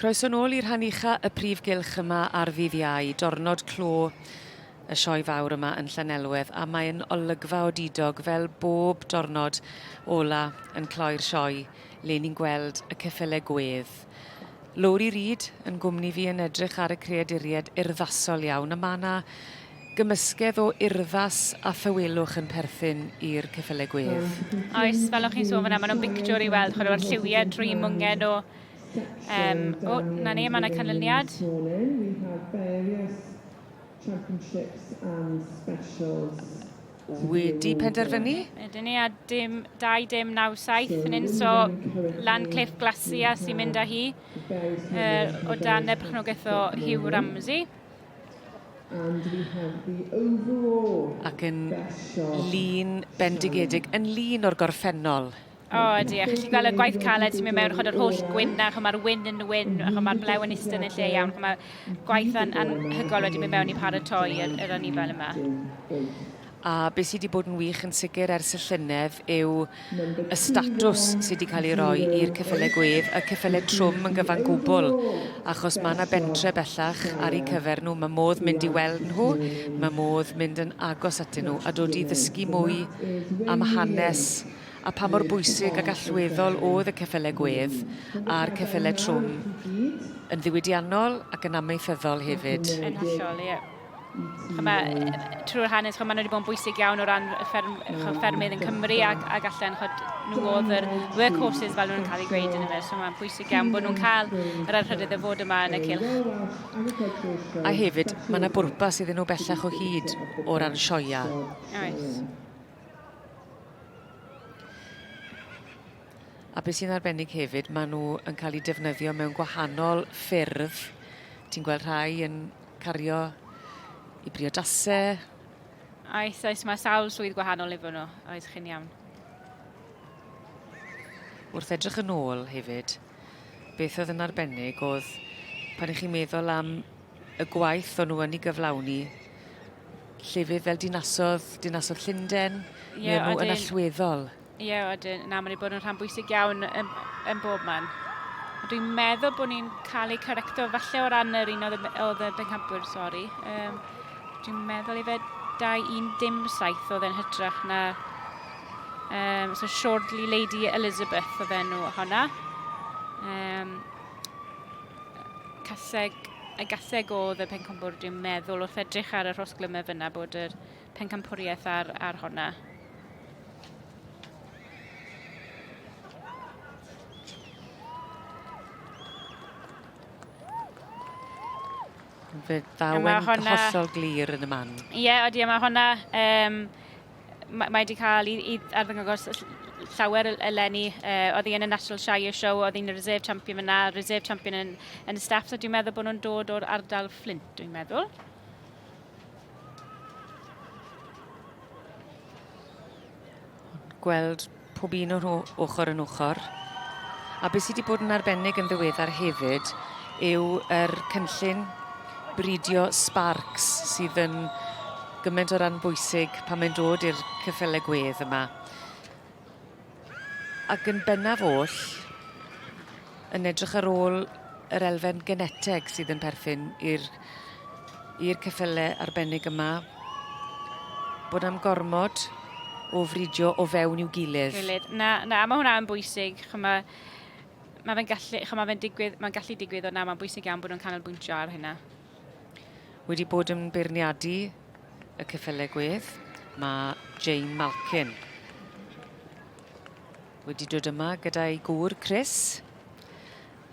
Croeso nôl i rhan ucha y prif gylch yma ar ddydd Iau, dornod clo y sioe fawr yma yn Llanelwedd a mae'n olygfa odidog fel bob dornod ola yn cloi'r sioe le ni'n gweld y ceffyle gwedd. Lowri Reid yn gwmni fi yn edrych ar y creaduried urddasol iawn a mae yna gymysgedd o urddas a thawelwch yn perthyn i'r ceffyle gwedd. Oes, fel o'ch chi'n sôn fyna, maen nhw'n bictiwr i weld chwarae o'r lliwiau dream mwngen o Um, o, oh, na ni, mae yna canlyniad. Wedi penderfynu? Ydyn ni, a dim 2-9-7 yn un, so Lan Cliff Glasia sy'n mynd â hi er, o dan y perchnogaeth o Hugh Ramsey. Ac yn lun bendigedig, yn lun o'r gorffennol. O, ydy, a chi gweld y gwaith caled sy'n mynd mewn, chod yr holl gwyn na, chod mae'r wyn yn wyn, a chod mae'r blew yn istyn yn lle iawn, chod mae'r gwaith an, anhygol wedi mynd mewn i paratoi yr, yr anifel yma. A beth sydd wedi bod yn wych yn sicr ers y llynedd yw y statws sydd wedi cael ei roi i'r cyffylau gwef, y cyffylau trwm yn gyfan gwbl, achos mae yna bentre bellach ar eu cyfer nhw, mae modd mynd i weld nhw, mae modd mynd yn agos atyn nhw a dod i ddysgu mwy am hanes a pha mor bwysig ac allweddol oedd y ceffylau gwedd a'r ceffylau trwm yn ddiwydiannol ac yn amaethyddol hefyd. Yn hollol, ie. Trwy'r hanes, maen nhw wedi bod yn bwysig iawn o ran y fferm, ffermydd yn Cymru ac, ac allan, chod, nhw oedd yr workhorses fel nhw'n cael ei gweud yn yma. So mae'n bwysig iawn bod nhw'n cael yr anrhydedd o fod yma yn y cylch. A hefyd, mae yna bwrpas iddyn nhw bellach o hyd o ran sioeau. Oes. A be' sy'n arbennig hefyd ma' n'w yn ca'l 'u defnyddio mewn gwahanol ffyrdd ti'n gweld rhai yn cario i briodase. Oes oes ma' sawl swydd gwahanol efo n'w oes chi'n iawn. Wrth edrych yn ôl hefyd beth o'dd yn arbennig o'dd pan 'ych chi'n meddwl am y gwaith o'n n'w yn 'i gyflawni Llefydd fel dinasodd, dinasodd Llundain, yeah, neu nhw yn allweddol. Ie, yeah, ydyn. Na, mae'n ei bod yn rhan bwysig iawn yn, yn bob man. Dwi'n meddwl bod ni'n cael ei correcto falle o ran yr un oedd y bencampwyr, sori. Um, dwi'n meddwl i fe 217 oedd e'n hytrach na um, so Shortly Lady Elizabeth oedd enw honna. Um, caseg, y gaseg o dde Pencampwr, dwi'n meddwl, wrth edrych ar y rhosglymau fyna bod yr Pencampwriaeth ar, ar honna. Fe ddawen honna... hollol glir yn y man. Ie, yeah, ydy, mae honna... Um, mae wedi cael i, i arddangos llawer eleni. Uh, oedd hi yn y National Shire Show, oedd hi'n reserve champion fyna, reserve champion yn, yn y staff, so dwi'n meddwl bod nhw'n dod o'r ardal Flint, dwi'n meddwl. Gweld pob un o nhw ochr yn ochr. A beth sydd wedi bod yn arbennig yn ddiweddar hefyd yw yr cynllun bridio sparks sydd yn gymaint o ran bwysig pan mae'n dod i'r cyffyle gwedd yma. Ac yn bennaf oll, yn edrych ar ôl yr elfen geneteg sydd yn perthyn i'r i'r ceffyle arbennig yma bod am gormod o fridio o fewn i'w gilydd. Gilydd. Na, na, mae hwnna yn bwysig. Chyma, mae fe'n gallu, chyma, fe'n digwydd, mae'n gallu digwydd, ond na, mae'n bwysig iawn bod nhw'n canolbwyntio ar hynna. Wedi bod yn beirniadu y ceffyle gwedd, mae Jane Malkin wedi dod yma gyda'i gŵr Chris.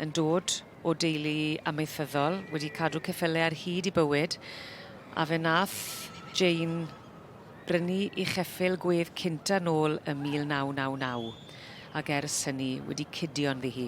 yn dod o deulu amaethyddol, wedi cadw ceffylau ar hyd i bywyd, a fe nath Jane brynu i cheffyl gwedd cynta nôl ym 1999, ac ers hynny wedi cydio ynddi hi.